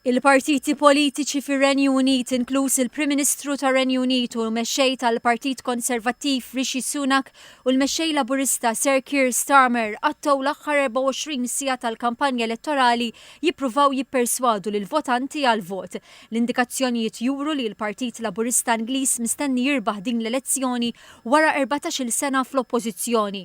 Il-partiti politiċi fir-Renju Unit, inkluż il-Prim Ministru tar-Renju Unit u l-Mexxej tal-Partit Konservattiv Rishi Sunak u l-Mexxej Laburista Sir Keir Starmer qattgħu l-aħħar 24 siegħa tal-kampanja elettorali jippruvaw jipperswadu lill-votanti għall-vot. L-indikazzjonijiet juru li l-Partit Laburista Ingliż mistenni jirbaħ din l-elezzjoni wara erbatax-il sena fl-oppożizzjoni.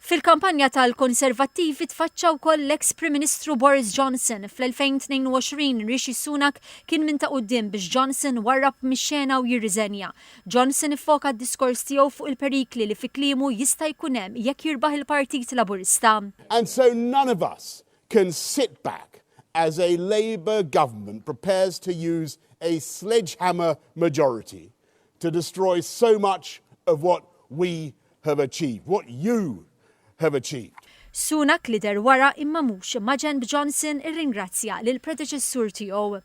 Fil-kampanja tal-Konservattivi tfaċċa wkoll l-eks Prim Ministru Boris Johnson. Fl-2022 Rishi Sunak kien minn ta' quddiem biex Johnson warrab mix-xena u jirriżenja. Johnson iffoka d-diskors tiegħu fuq il-perikli li fi kliemu jista' jkun hemm jekk jirbaħ il-Partit Laburista. And so none of us can sit back as a Labour Government prepares to use a sledgehammer majority to destroy so much of what we have achieved, what you have achieved. Sunak li deher wara imma mhux maġenb Johnson irringrazzja lill-predeċessur tiegħu.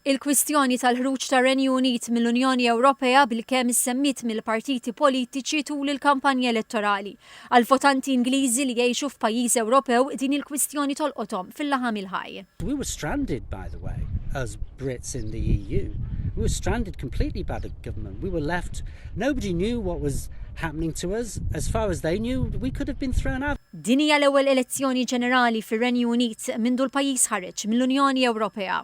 Il-kwistjoni tal-ħruġ tar-Renju Unit mill-Unjoni Ewropea bilkemm issemmiet mill-partiti politiċi tul il-kampanja elettorali Għall-votanti Ingliżi li jgħixu f'pajjiż Ewropew din il-kwistjoni tolqothom fil-laħam il-ħaj. We were stranded by the way as Brits in the EU. We were stranded completely by the government. We were left nobody knew what was happening to us as far as they knew we could have been thrown out. Din hija l-ewwel elezzjoni ġenerali fir-Renju Unit mindu l-pajjiż ħareġ mill-Unjoni Ewropea.